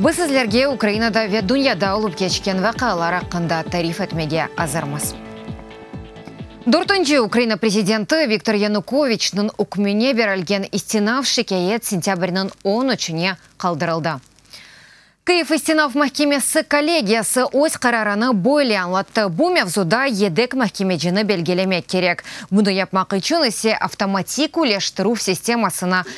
Biz sizlerge Ukrainada ve dünyada olıp keçken vaqialar aqqında tarif etmege azırmız. Dörtünci Ukraina prezidenti Viktor Yanukoviçniñ ükmüne berilgen istinaf şikâyet sentâbrniñ on üçüne qaldırıldı. Kyiv istinaf mahkemesi kollegiyası öz qararını böyle añlattı, Bu mevzuda yedek mahkemecini belgilemek kerek, bunı yapmaq içün ise avtomatik üleştirüv sistemasına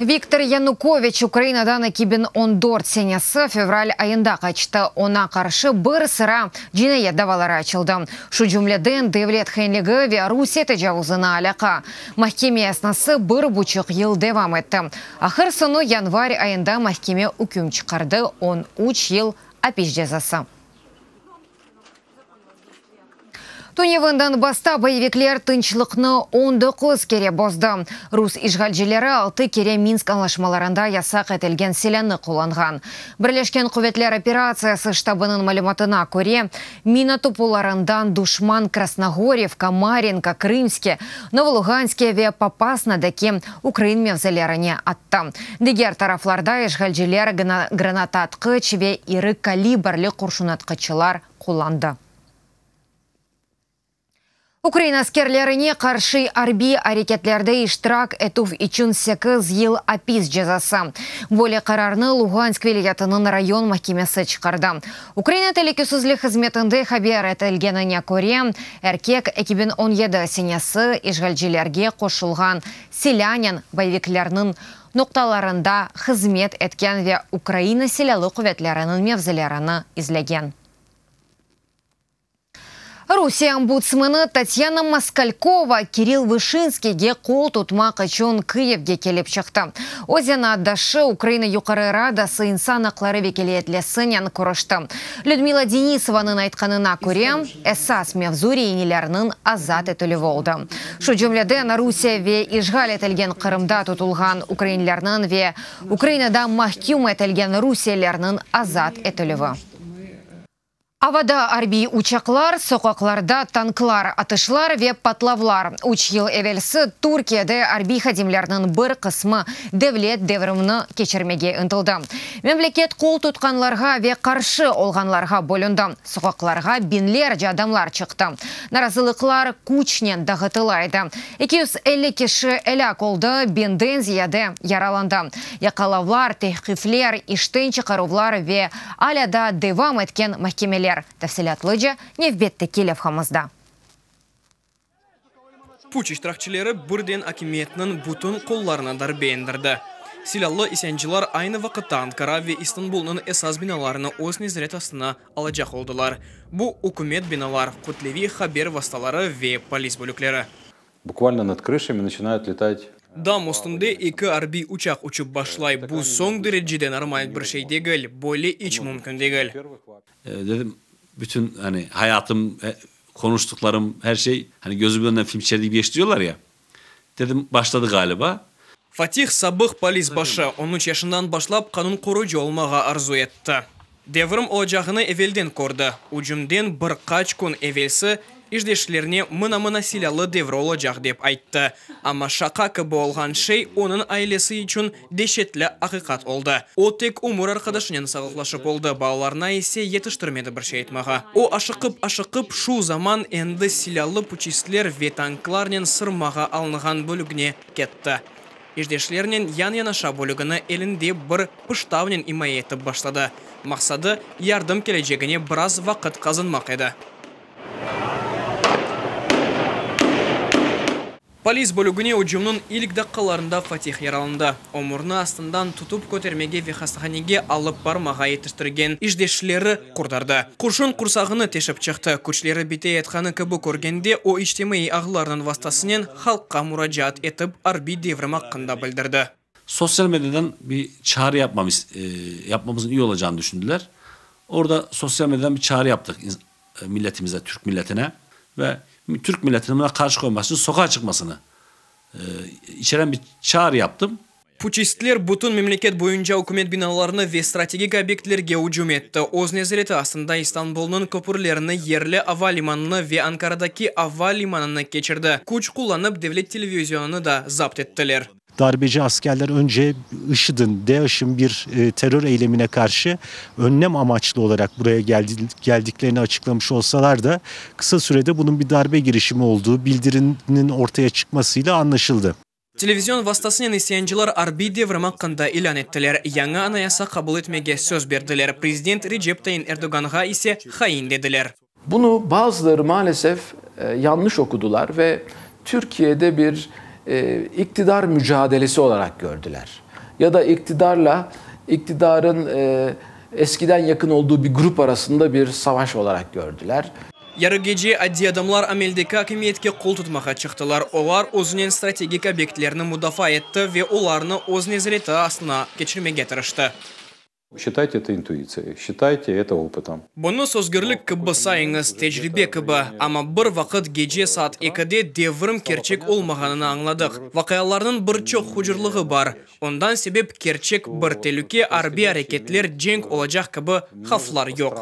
Viktor Yanukoviç Ukrainadan eki biñ on dört senesi fevral ayında qaçtı. Oña qarşı bir sıra cinayet davaları açıldı, şu cümleden devlet hainligi ve Rusiye tecavuzına alâqa. Mahkeme esnası bir buçuq yıl devam etti. Ahır soñu yanvar ayında mahkeme üküm çıqardı, on üç yıl apis cezası. Tünevından basta boyevikler tınçlıqnı on doquz kere bozdı. Rus işğalcileri altı kere Minsk añlaşmalarında yasaq etilgen silânı qullanğan. Birleşken quvetler operatsiyası ştabınıñ malümatına köre, mina topularından duşman Krasnogorivka, Marinka, Krımske, Novoluganske ve Popasnadaki ukrain mevzilerine attı. Diger taraflarda işğalciler granataatqıç ve iri kalibrli qurşunatqıçlar qullandı. Ukrain askerlerine qarşı arbiy areketlerde iştirak etüv içün sekiz yıl apis cezası. Böyle qararnı Lugansk vilâyetiniñ rayon mahkemesi çıqardı. Ukraina telükesizlik hızmetinde haber etilgenine köre, erkek eki biñ on yedi senesi işğalcilerge qoşulğan silânen boyeviklerniñ noqtalarında hızmet etken ve Ukraina Silâlı quvetleriniñ mevzilerini izlegen. Rusiye ombudsmeni Tatyana Moskalkova Kirill Vışinskiyge qol tutmaq içün Kyivge kelip çıqtı. O zenaatdaşı, Ukraina Yuqarı Radası insan aqları vekiliyetlesinen körüşti. Lüdmila Denisovanıñ aytqanına köre, esas mevzu reinilernıñ azat etilüvi oldı, şu cümleden Rusiye ve işğal etilgen Qırımda tutulğan ukrainlerniñ ve Ukrainada mahküm etilgen rusiyelilerniñ azat etilüvi. Avada arbiy uçaqlar, soqaqlarda tanklar, atışlar ve patlavlar. Üç yıl evelsi Türkiyede arbiy hadimlerniñ bir qısmı devlet devrimni keçirmege ıntıldı. Memleket qol tutqanlarğa ve qarşı olğanlarğa bölündi. Soqaqlarğa biñlerce adamlar çıqtı. Narazılıqlar küçnen dağıtıla edi. Eki yüz elli kişi elâk oldı, biñden ziyade yaralandı. Yaqalavlar, tevqifler, işten çıqaruvlar ve Alâ daa devam etken mahkemeler, tafsilâtlıca nevbetteki levhamızda. Puç iştirakçileri birden akimiyetniñ bütün qollarına darbe endirdi. Silâlı isyancılar aynı vaqıtta Ankara ve İstanbulnıñ esas binalarını öz nezaret astına alacaq oldılar, bu, ükümet binalar, kütleviy haber vastaları ve polis bölükleri. Bukvalno nad krışami naçınayat letat. Dam üstünde eki arbiy uçaq uçıp başlay, bu soñ derecede normal bir şey degil, böyle iç mümkün degil. Dedim, bütün hani hayatım, qonuştıqlarım, her şey, hani gözümün önünden film çeker kibi geçti diyorlar ya, dedim, başladı galiba. Fatih, sabıq polis başı, on üç yaşından başlap qanun qoruyıcı olmağa arzu etti. Devrim olacağını evelden kördi. Ücümden bir qaç kün evelsi işdeşlerine mına-mına silâlı devri olacaq dep ayttı. Amma şaqa kibi olğan şey onıñ ailesi içün deşetli aqiqat oldı. O tek ömür arqadaşınen sağlıqlaşıp oldı, balalarına ise yetiştirmedi bir şey aytmağa. O aşıqıp-aşıqıp şu zaman endi silâlı puçistler ve tanklarnen sırmağa alınğan bölügne ketti. işdeşlernen yan-yanaşa bölügini elinde bir pıştavnen imaye etip başladı. Maqsadı, yardım kelecegine biraz vaqıt qazanmaq edi. Polis bölügine ücümniñ ilk daqqalarında Fatih yaralandı. O, murnı astından tutıp kötermege ve hastahanege alıp barmağa yetiştirgen işdeşleri qurtardı. Qurşun qursağını teşip çıqtı. Küçleri bite yatqanı kibi körgende, o içtimaiy ağlarnıñ vastasınen, halqqa muracaat etip, arbiy devrim aqqında bildirdi. Sosyal medyadan bir çağrı yapmamız, yapmamızın iyi olacağını düşündiler. Orda sosyal medyadan bir çağrı yaptıq milletimize, Türk milletine ve Türk milletini buna qarşı qoyması, soqağa çıqmasını içeren bir çağrı yaptım. Puçistler bütün memleket boyunca ükümet binalarına ve strategik obyektlerge ücüm etti. Öz nezareti astında İstanbulnıñ köpürlerini, yerli ava limanını ve Ankaradaki ava limanını keçirdi. Küç qullanıp, devlet televizionını da zapt ettiler. Darbeci askerler önce IŞİD'in, DAŞİŞ'in bir terör eylemine qarşı önlem amaçlı olaraq buraya geldiklerini açıqlamış olsalar da, qısa sürede bunıñ bir darbe girişimi olduğu bildiriniñ ortaya çıqmasıyla anlaşıldı. Televizion vastasınen isyancılar arbiy devrim aqqında ilân ettiler, yañı anayasa qabul etmege söz berdiler, prezident Recep Tayin Erdoğanğa ise hain dediler. Bunı bazıları maalesef yanlış okudılar ve Türkiye'de bir iqtidar mücadelesi olaraq gördüler ya da iqtidarla iqtidarın Eskiden yaqın olduğu bir grup arasında bir savaş olarak kördiler. Yarı gece addiy adamlar ameldeki akimiyetke qol tutmağa çıqtılar. Olar özünen strategik obyektlerni mudafaa etti ve olarnı öz nezareti astına keçirmege tırıştı. Şitayte eto intuitsiyay, şitayte eto oputom. Bunı sözgürlük kibi sayıñız, tecribe kibi. Amma bir vaqıt gece saat ekide devrim kerçek olmağanını añladıq. Vaqialarnıñ bir çoq hucurlığı bar. Ondan sebep kerçek bir telüke, arbiy areketler, cenk olacaq kibi havflar yoq.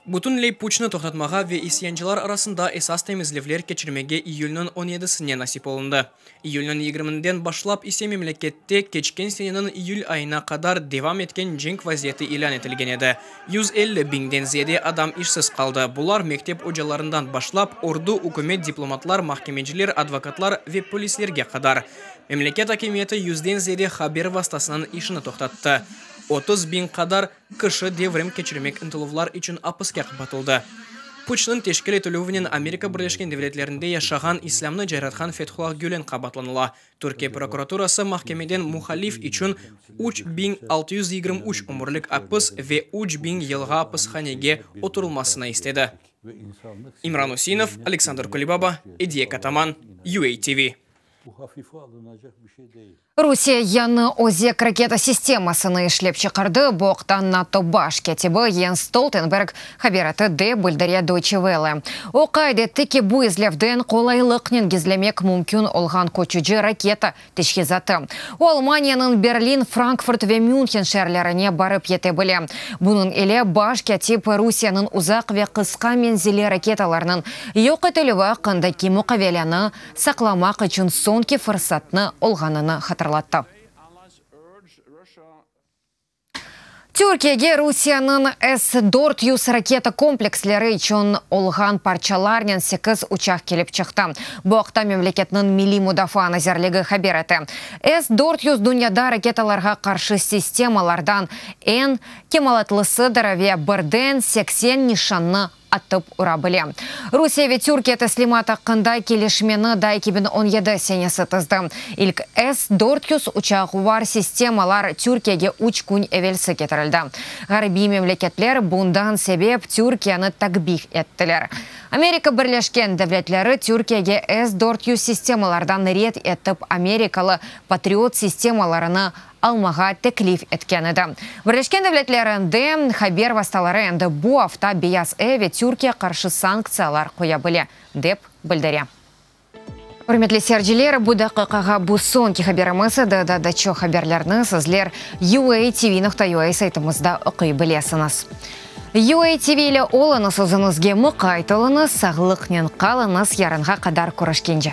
Bütünley puçnı toqtatmağa ve isyancılar arasında esas temizlevler keçirmege iyülniñ on yedisine nasip olundı. İyülniñ yigirmininden başlap ise memlekette keçken seneniñ iyül ayına qadar devam etken cenk vaziyeti ilân etilgen edi. Yüz elli biñden ziyade adam işsiz qaldı, bular mektep ocalarından başlap, ordu, ükümet, diplomatlar, mahkemeciler, advokatlar ve polislerge qadar. Memleket akimiyeti yüzden ziyade haber vastasınıñ işini toqtattı, otuz biñ qadar kişi devrim keçirmek ıntıluvlar içün apiske qapatıldı. Puçnıñ teşkil etilüvinen Amerika Birleşken Devletlerinde yaşağan islâmnı cayratqan Fethullah Gülen qabaatlanıla, Türkiye prokuraturası mahkemeden muhalif içün üç biñ altı yüz yigirmi üç ömürlik apis ve üç biñ yılğa apishanege oturılmasını istedi. İmran Üseinov, Aleksandr Kulibaba, Ediye Kataman, UATV. Bu hafife alınacaq bir şey degil. Rusiye yañı Ozek raketa sistemasını işlep çıqardı, bu aqta NATO baş kâtibi Yens Stoltenberg haber etti, dep bildire Deutsche Welle. O qayd etti ki, bu izlevden qolaylıqnen gizlemek mümkün olğan köçüci raketa teçhizatı. O Almaniyanıñ Berlin, Frankfurt ve Münhen şeerlerine barıp yete bile. Bunıñ ile baş kâtip Rusiyanıñ uzaq ve qısqa menzilli raketalarnıñ yoq etilüvi aqqındaki muqaveleni saqlamaq içün soñki fırsatnı olğanını hatırlattı. Türkiyege Rusiyanıñ S dört yüz raketa kompleksleri içün olğan parçalarnen sekiz uçaq kelip çıqtı. Bu aqta memleketniñ Milliy mudafaa nazirligi haber ete. S dört yüz dünyada raketalarğa qarşı sistemalardan eñ kemalatlısı-dır ve birden seksen nişannı atıp ura bile. Rusiye ve Türkiye teslimat aqqında kelişmeni da eki biñ on yedi senesi tizdi. İlk S dört yüz uçaq var sistemalar Türkiyege üç kün evelsi ketirildi. Ğarbiy memleketler bundan sebep Türkiyeni takbih ettiler. Amerika Birleşken Devletleri Türkiyege S dört yüz sistemalardan red etip amerikalı Patriot sistemalarını almağa teklif etken edi. Birleşken Devletler endi, haber vastaları endi bu afta Beyaz ev ve Türkiye qarşı sanktsiyalar qoya bile, dep bildire. Ürmetli serciler, bu daqiqağa bu soñki haberimiz edi. Da da çoq haberlerni sizler UATV nokta UA saytımızda oquy bilesiñiz. UATV ile oluñız, özüñizge muqayt oluñız, sağlıqnen qalıñız, yarınğa qadar körüşkence.